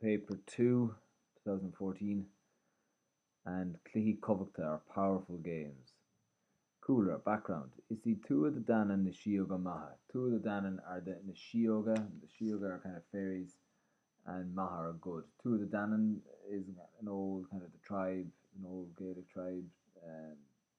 Paper Two, 2014, and Cluichí Cumhachta are powerful games. Cúlra, Background, Is í Tuath De Danann na síóga maithe. Tuath De Danann are the na síóga. The síóga are kind of fairies and maithe are good. Tuath De Danann is an old kind of the tribe, an old Gaelic tribe.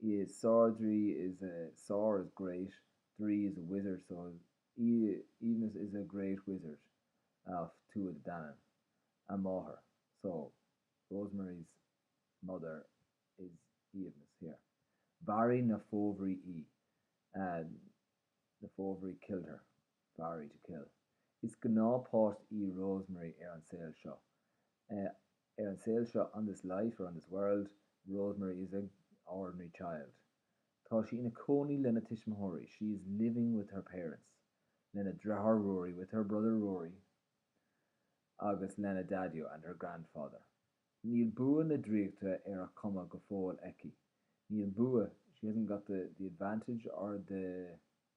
He is sár-draoi is a sár is great draoi is a wizard so he even is is a great wizard of Tuatha Danann. A máthair so Rosemary's mother is even is here. Mharaigh na fobhrí í, the fobhrí killed her. Fairy to Kill. Is gnáthpháiste í Rosemary ar an saol seo. ar an saol seo on this life or on this world, Rosemary is a ordinary child. Tá sí ina cónaí lena tuismitheoirí she is living with her parents lena deartháir Ruairí with her brother Ruairí agus lena daideo and her grandfather. Níl bua na draíochta ar a cumas go fóill aici. Níl bua she hasn't got the the advantage or the.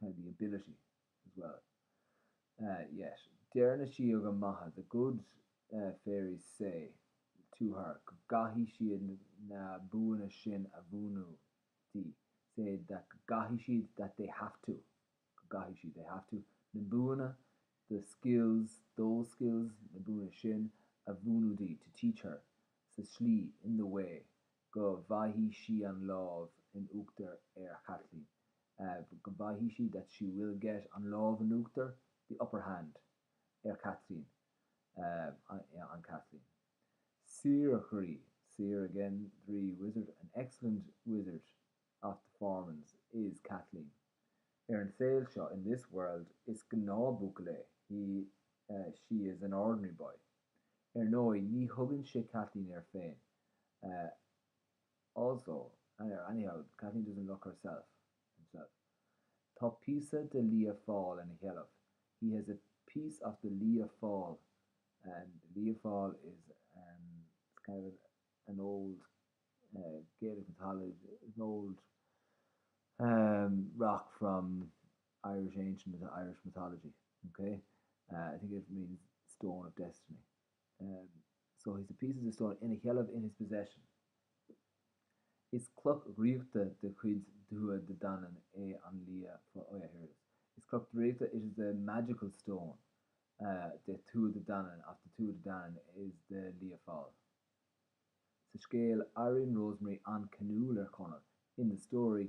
kind of the ability as well yet deir na síoga maithe the good fairies say to her go gcaithfidh siad na buanna sin a mhúineadh di say that go gcaithfidh siad that they have to go gcaithfidh siad they have to na buanna the skills those skills na buanna sin a mhúineadh di to teach her sa slí in the way go bhfaighidh sí an lámh in uachtar ar Chaitlín, go bhfaighidh sí, that she will get an lámh in uachtar, the upper hand, ar Chaitlín, on Kathleen. Sárdhraoi, sár again, draoi, wizard, an excellent wizard, of the Fomorians, is Caitlín. Ar an saol seo, in this world, is gnáthbhuachaill é, he, she is an ordinary boy. Ar ndóigh, ní thugann sé Kathleen air féin. Also, anyhow, Kathleen doesn't look herself, himself. Tá píosa de Lia Fáil in a sheilbh, he has a piece of the Lia Fáil and Lia Fáil is an, it's kind of an old Gaelic mythology, it's an old rock from. Irish ancient into Irish mythology, ok? I think it means stone of destiny. So he's a piece of the stone, ina sheilbh, in his possession. Is cloch dhraíochta de chuid Tuatha De Danann é an Lia Fáil. Oh yeah, here it is. Is cloch draíochta, it is a magical stone, de Tuatha De Danann, of the Tuatha De Danann, is the Lia Fáil. Sa scéal, éiríonn Rosemary an-ceanúil ar Chonall, in the story,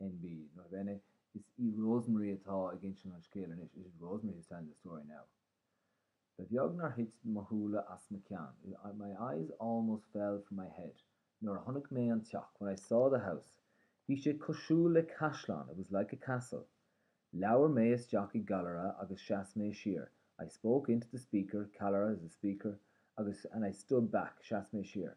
NB, Nota bene, Is í Rosemary atá ag insint an scéil anois, It is Rosemary who is telling the story now. Ba bheag nár thit mo shúile as mo cheann, My eyes almost fell from my head, nuair a chonaic mé an teach, When I saw the house. Bhí sé cosúil le caisleán, It was like a castle. Labhair mé isteach i gcallaire agus sheas mé siar, I spoke into the speaker, callaire is a speaker, agus, and I stood back, sheas mé siar.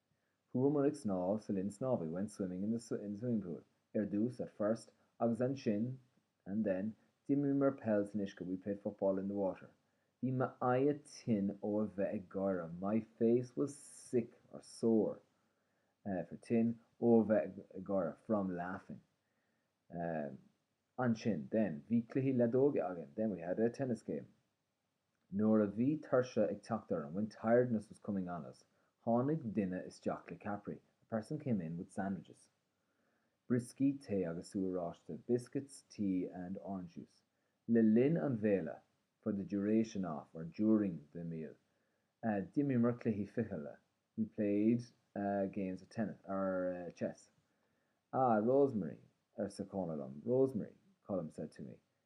Chuamar ag snámh sa linn snámha, we went swimming in the swimming pool, ar dtús, at first, agus ansin, and then, d'imríomar peil san uisce, we played football in the water. Bhí m'aghaidh tinn ó a bheith ag gáire, my face was sick, or sore, for tinn, ó a bheith ag gáire, from laughing. Ansin, then, bhí cluichí leadóige againn, then we had a tennis game. Nuair a bhí tuirse ag teacht orainn, when tiredness was coming on us, tháinig duine isteach le ceapairí, a person came in with sandwiches. Brioscaí, tae agus sú oráiste, biscuits, tea and orange juice. Le linn an bhéile, for the duration of or during the meal. D'imríomar cluichí fichille, we played games of tennis, or chess. Ah, Rosemary, arsa Conall liom, Rosemary, Conall said to me,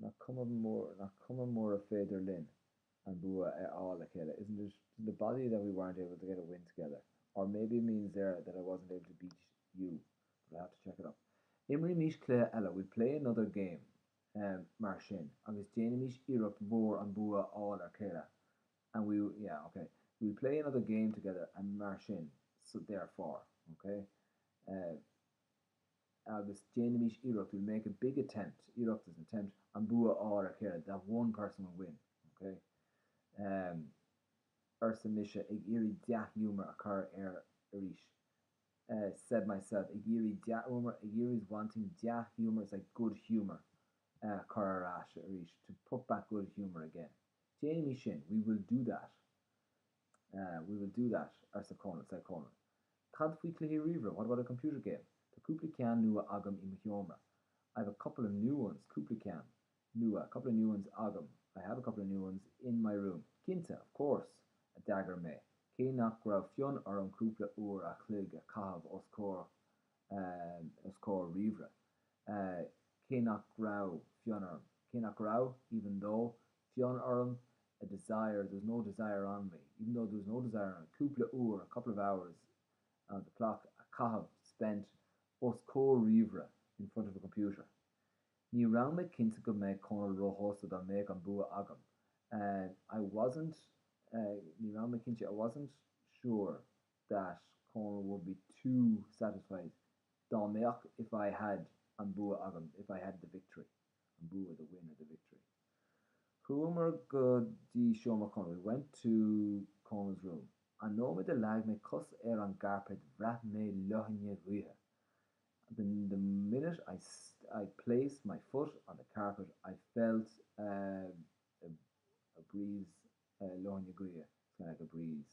Nach cuma mura, nach cuma mura féidir linn an bua a fháil le chéile, isn't it, isn't it bother you that we weren't able to get a win together, or maybe it means there that I wasn't able to beat you, but I'll have to check it up. Imrímís cluiche eile, we'll play another game, mar sin, agus déanfaimís iarracht mhór an bua a fháil ar chéile, and we, yeah, ok, we'll play another game together, and mar sin, so, therefore, ok, eh. agus déanaimís iarracht, we make a big attempt, iarracht is an attempt, an bua a fháil ar a chéile, that one person will win, ok? em. Arsa mise ag iarraidh dea-ghiúmar a chur air arís. Eh said myself ag iarraidh dea-ghiúmar, ag iarraidh is wanting dea-ghiúmar is like good humour a chur ar ais arís, to put back good humour again. Déanaimís sin, we will do that. Aye, we will do that, arsa Cónall. Said Cónall, cad faoi chluiche ríomhaire? What about a computer game? Tá cúpla ceann nua agam i mo sheomra. I have a couple of new ones, cúpla ceann, nua, couple of new ones, agam. I have a couple of new ones, in my room. Cinnte, of course! a d'fhreagair mé, cé nach raibh fonn orm cúpla uair a' chloig a chaitheamh os comhair os comhair ríomhaire, cé nach raibh fonn orm, cé nach raibh, even though, fonn orm, a desire, there's no desire on me, even though there's no desire on me, cúpla uair, a couple of hours, on the clock, a chaitheamh, spent, os comhair ríomhaire, in front of a computer. Ní raibh mé cinnte go mbeadh Cónall róshásta dá mbeadh an bua agam, I wasn't, ní raibh mé cinnte, I wasn't sure, that Conall would be too satisfied dá mbeadh if I had an bua agam if I had the victory an bua the win of the victory Chuamar go dtí seomra Chonaill we went to Conall's room An nóiméad a leag mé cos ar an gcairpéad bhraith mé leoithne ghaoithe the the minute I I placed my foot on the carpet I felt a a a breeze leoithne gaoithe it's kind of like a breeze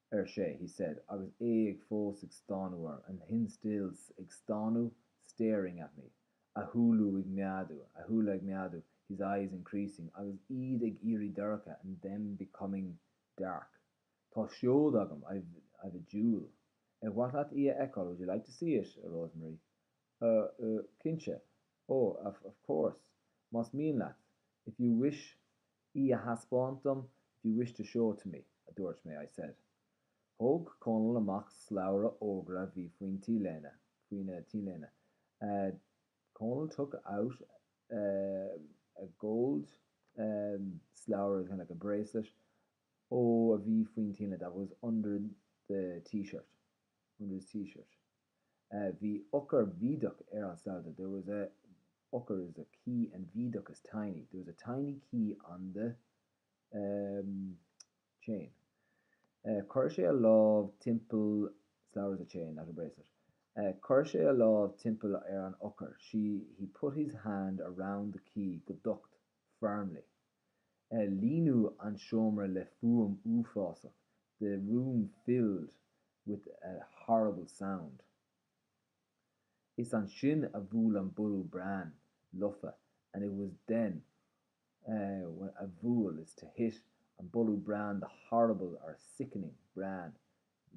ar sé, he said, agus é ag fós ag stánadh orm, and him still ag stánadh, staring, at me, a shúile ag meádú, a shúile ag meádú, his eyes increasing, agus iad ag éirí dorcha, and them becoming dark. Tá seod agam, I've, I've a jewel. Ar mhaith leat í a fheiceáil, would you like to see it, a Rosemary? A, a, cinnte. Oh, a, of course. Más mian leat, if you wish, í a thaispeáint dom, if you wish to show it to me, a dúirt mé, I said. Thóg Cónall amach slabhra órga a bhí faoin T-léine, faoina T-léine, eh, Cónall took out eh a gold eh slabhra, kind of like a bracelet, ó a bhí faoin T-léine, that was under the T-shirt, under his T-shirt. Bhí eochair bhídeach ar an slabhra, there was a eochair is a key and bhídeach is tiny, there was a tiny key on the chain. Chuir sé a lámh timpeall, slabhra is a chain, not a bracelet. Chuir sé a lámh timpeall ar an eochair, she, he put his hand around the key go docht, Farmleigh, ar líonadh an seomra le fuaim uafásach 'the room filled with a horrible sound'. Is ansin a bhuail an borradh brain lofa and it was then when a bhuail, is to hit, an borradh brain 'the horrible or sickening brain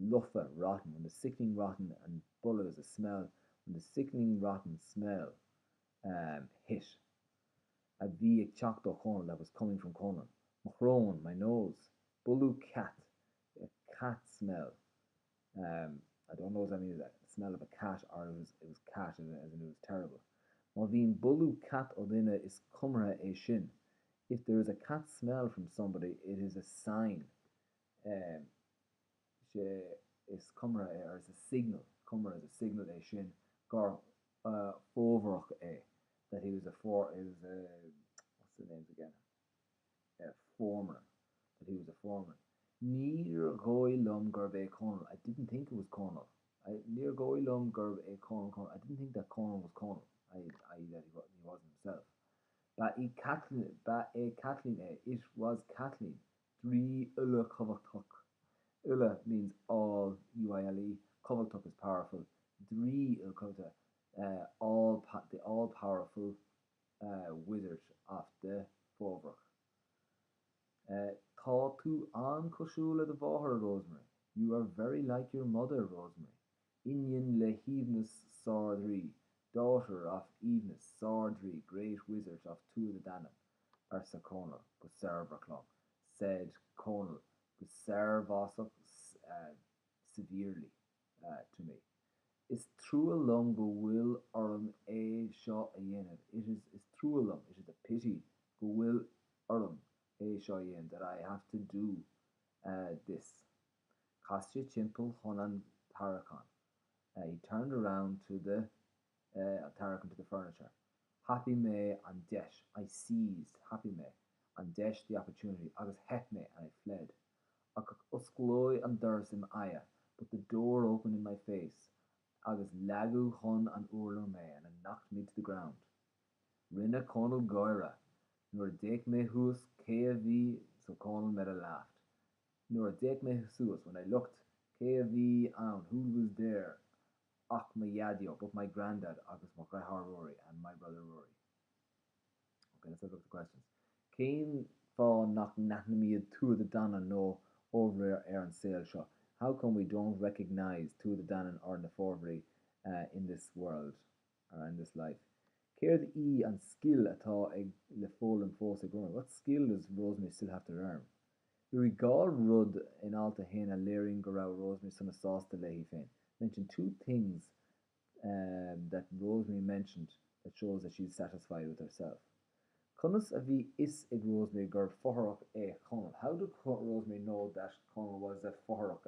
lofa rotten', when the sickening rotten an borradh is a smell, when the sickening rotten smell hit. a bhí ag teacht ó Chónaill, I was coming from Conan. Mo shrón, my nose. Bualadh cat, a cat smell. Um, I don't know, does that mean a smell of a cat or it was, it was cat as in it was terrible. Má bhíonn bualadh cat ó dhuine is comhartha é sin. If there is a cat smell from somebody it is a sign, um, Is é is comhartha é, or is a signal, comhar is a signal é sin gur fómharach é, that he was a for, he was a, what's their names again, a foreman, that he was a foreman. Níor dhóigh liom gurb é Conall, I didn't think it was Conall, I, níor dhóigh liom gurb é Conall Conall, I didn't think that Conall was Conall, I, i.e. that he wa, he wasn't himself. Ba í Caitlín, ba é Caitlín é, it was Caitlín, Draoi uile cumhachtach, uile means all, UILE, cumhachtach is powerful, draoi uile cumhachta, the all powerful wizard of the, Fomhórach. Tá tú an-cosúil le do mháthair, Rosemary. You are very like your mother, Rosemary. iníon le hAoibhneas Sár-Dhraoi, daughter of Aoibhneas Sár-Draoi, great wizard of Tuath De Danann, arsa Conall go searbhasach liom, said Conall go searbhasach severely to me. Is trua liom go bhfuil orm é seo a dhéanamh, it is is trua liom, it is a pity go bhfuil orm é seo a dhéanamh, that I have to do this. Chas sé timpeall chun an tarraiceán, he turned around to the tarraiceán, to the furniture. Thapaigh mé an deis, I seized. Thapaigh mé an deis, the opportunity. Agus theith mé, and I fled. Ach osclaíodh an doras i m'aghaidh, but the door opened in my face. Agus leagadh chun an urláir mé, and it knocked me to the ground. Rinne Conall gáire. Nuair a d'fhéach mé thuas cé a bhí so Conall made a laugh. Nuair a d'fhéach mé suas, when I looked, cé a bhí ann, who was there, ach mo Dhaideo, but my grandad agus mo dheartháir Ruairí, and my brother Ruairí. Ok, let's have a look at the questions. Cén fáth nach n-aithnímid Tuath De Danann nó Fomhóraigh ar an saol seo? How come we don't recognise Tuath De Danann or na Fomhóraigh in this world? Ar end this life. Céard í an scil atá ag le foghlaim fós ag Rosemary? What skill does Rosemary still have to learn? Luaigh dhá rud in alt a haon a léiríonn go raibh Rosemary sona sásta léi féin. Mention two things that Rosemary mentioned that shows that she is satisfied with herself. Conas a bhí fhios ag Rosemary gurbh fothrach é Conall? How do Rosemary know that Conall was a fothrach,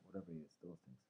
whatever he is, those things?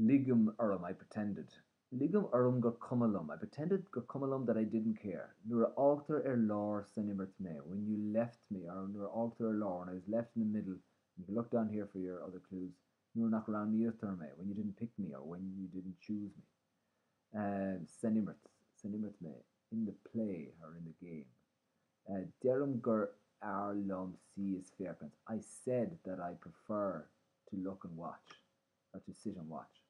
Ligim orm, I pretended. Ligim orm gur cuma liom, I pretended gur cuma liom that I didn't care. Nuair a fhágtar ar lár san imirt mé, when you left me, or nuair a fhágtar ar lár, when I was left in the middle, and you can look down here for your other clues, nuair nach roghnaítear mé, when you didn't pick me, or when you didn't choose me. san imirt, san imirt mé, in the play, or in the game. Deirim gur fearr liom suí is féachaint, I said that I prefer to look and watch. But to sit and watch.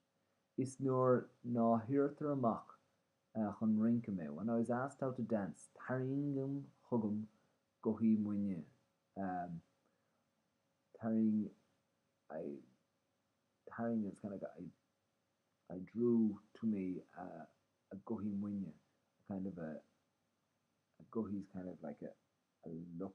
Is nuair ná hiarrtar amach chun rinnce mé, when I was asked out to dance, tarraingim chugam gothaí mo nighe, tarraing, I, tarraing is kind of like I, I drew to me a gothaí moine, a kind of a, a gothaí is kind of like a, a look.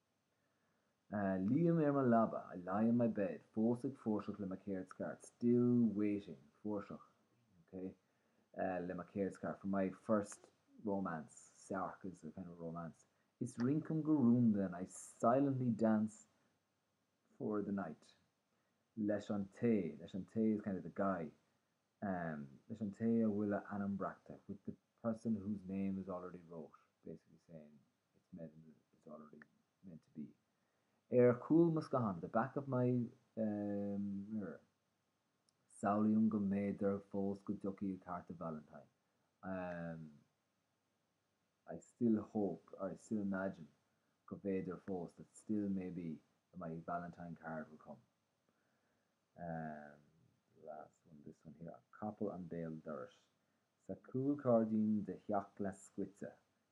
Luím ar mo leaba, I lie in my bed. Fós ag fuirseadh le mo chéard scairt, still waiting, fuirseadh, ok, le mo chéard scairt, for my first romance, searc is a kind of romance. Is rincaim go rúnda and I silently dance for the night. Leis an té, leis an té is kind of the guy. Leis an té a bhfuil a ainm breactha, with the person whose name is already wrote, basically saying. It's meant, it's already meant to be. Ar chúl mo scáthán, the back of my, eh, mirror. Samhlaím go mb'fhéidir fós go dtiocfaidh cárta Valentine. Um I still hope, or I still imagine, go mb'fhéidir fós, that still maybe, there might be Valentine card will come. Um the last one, this one here, Capall an Béal Dorais. Sa chúlghairdín de theach glas scoite,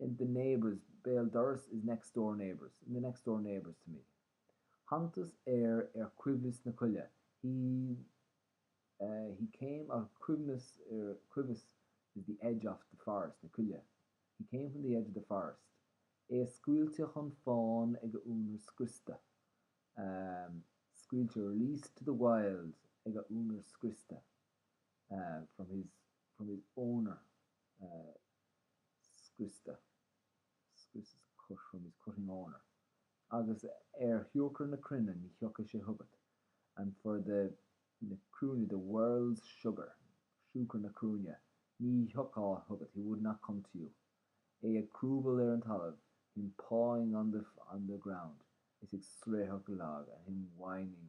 in the neighbours' béal dorais is next door neighbours', in the next door neighbours' to me Thángthas air ar chuibhreas na coille, he he came a chuimhneamh ar chuibhreas is the edge of the forest na coille, he came from the edge of the forest é a scaoilte chun fáin ag a únaer scriosta, scaoilte released to the wild ag a únaer scriosta, from his, from his owner, from his, from his, scoite, scoite is cut from means cut in order, agus ar shiúcra na cruinne ní thiocfadh sé chugat and for the na cruinne the world's sugar siúcra na cruinne ní thiocfadh chugat he would not come to you é ag crúbáil ar an talamh him pawing on the on the ground is ag seitreach lag and him whining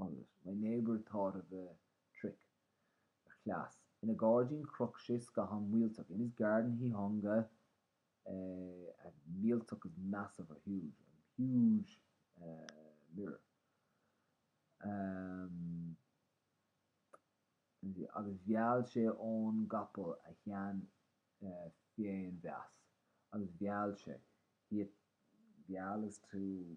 Agus my neighbour thought of a trick, a chleas, ina ghairdín chroch sé scathán millteach in his garden he hung a millteach is massive or huge, a huge mirror and agus mheall sé ón gcapall a shean féinmheas agus mheall sé he, mheall is to.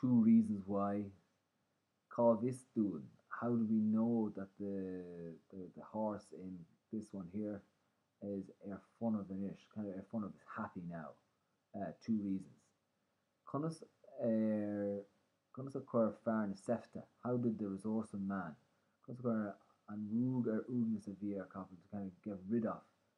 Two reasons why, Cá bhfios dúinn? How do we know that the, the, the horse in this one here is ar fonnadh anois, kind of ar fonnadh, is happy now. Two reasons. Conas ar, conas a chuir fear na seifte, how did the resourceful man, conas a chuir an ruag ar uaigneas a bhí ar a chapall, to kind of get rid of,